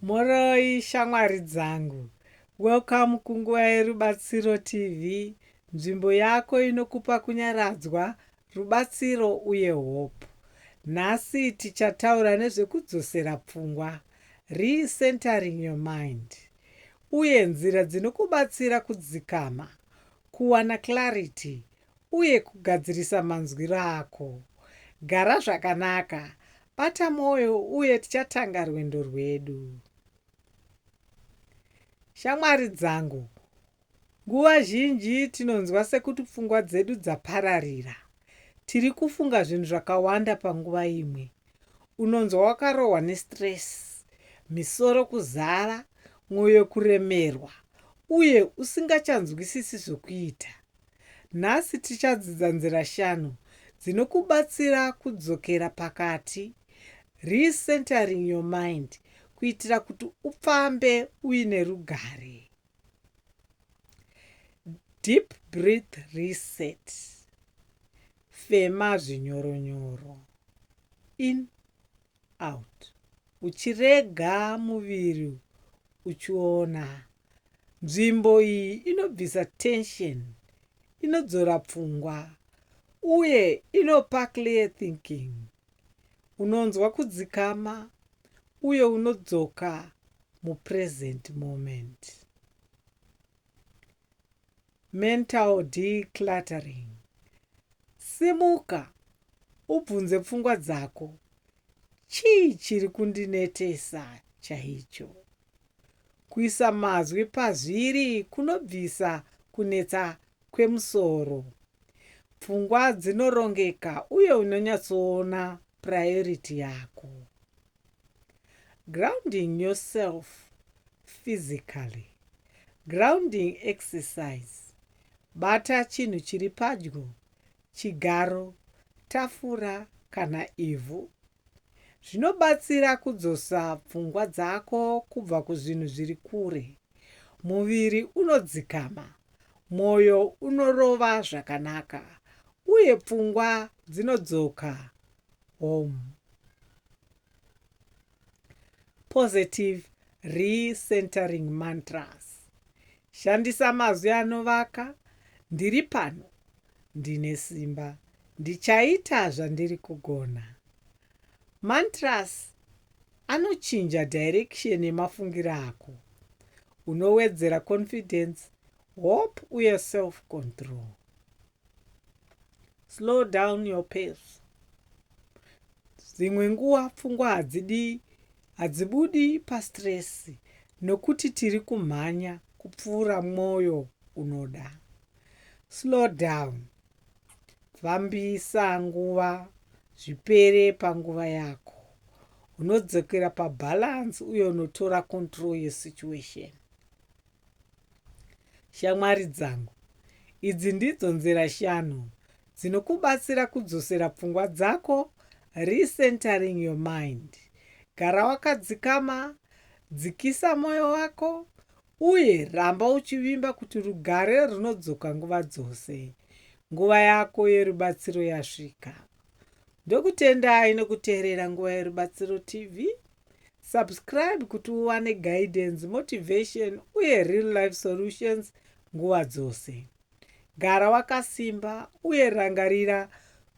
Mhoroi shamwari dzangu. Welcome kunguva yeRubatsiro TV, nzvimbo yako inokupa kunyaradzwa, rubatsiro uye hope. Nhasi tichataura nezvekudzosera pfungwa, re-centering your mind, uye nzira dzinokubatsira kudzikama, kuwana clarity uye kugadzirisa manzwiro ako. Gara zvakanaka, bata mwoyo uye tichatanga rwendo rwedu. Shamwari dzangu, nguva zhinji tinonzwa sekuti pfungwa dzedu dzapararira. Tiri kufunga zvinhu zvakawanda panguva imwe. Unonzwa wakarohwa nestress, misoro kuzara, mwoyo kuremerwa uye usingachanzwisisi zvokuita. Nhasi tichadzidza nzira shanu dzinokubatsira kudzokera pakati, re-centering your mind, kuitira kuti ufambe uine rugare. Deep breath reset. Fema zvinyoronyoro. In. out uchirega muviri uchiona. Nzvimbo iyi inobvisa tension, inodzora pfungwa uye inopa clear thinking. Unonzwa kudzikama uye unodzoka mupresent moment. Mental decluttering. Simuka ubvunze pfungwa dzako, Chii chiri kundinetesa chaicho? Kuisa mazwi pazviri kunobvisa kunetsa kwemusoro. Pfungwa dzinorongeka uye unonyatsoona priority yako. Grounding yourself physically. Grounding exercise. Bata chinhu chiri padyo, chigaro, tafura kana ivhu. Zvinobatsira kudzosa pfungwa dzako kubva kuzvinhu zviri kure. Muviri unodzikama, mwoyo unorova zvakanaka uye pfungwa dzinodzoka home. Positive Recentering Mantras. Shandisa mazwi anovaka, ndiri pano, ndine simba, ndichaita zvandiri kugona. Mantras anochinja direction yemafungiro ako. Unowedzera confidence, hope uye self-control. Slow down your pace. Dzimwe nguva pfungwa hadzidi hadzibudi pastress nokuti tiri kumhanya kupfuura mwoyo unoda. Slow down. Fambisa nguva zvipere panguva yako. Unodzokera pabalance uye unotora control yesituation. Shamwari dzangu, idzi ndidzo nzira shanu dzinokubatsira kudzosera pfungwa dzako, recentering your mind. Gara wakadzikama, dzikisa moyo wako, uye ramba uchivimba kuti rugare runodzoka nguva dzose. Nguva yako yerubatsiro yasvika. Ndokutendai nokuteerera Nguva Yerubatsiro TV. Subscribe kuti uwane guidance, motivation uye real life solutions nguva dzose. Gara wakasimba uye rangarira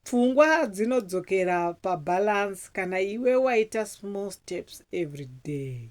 pfungwa dzinodzokera pabalance kana iwe waita small steps every day.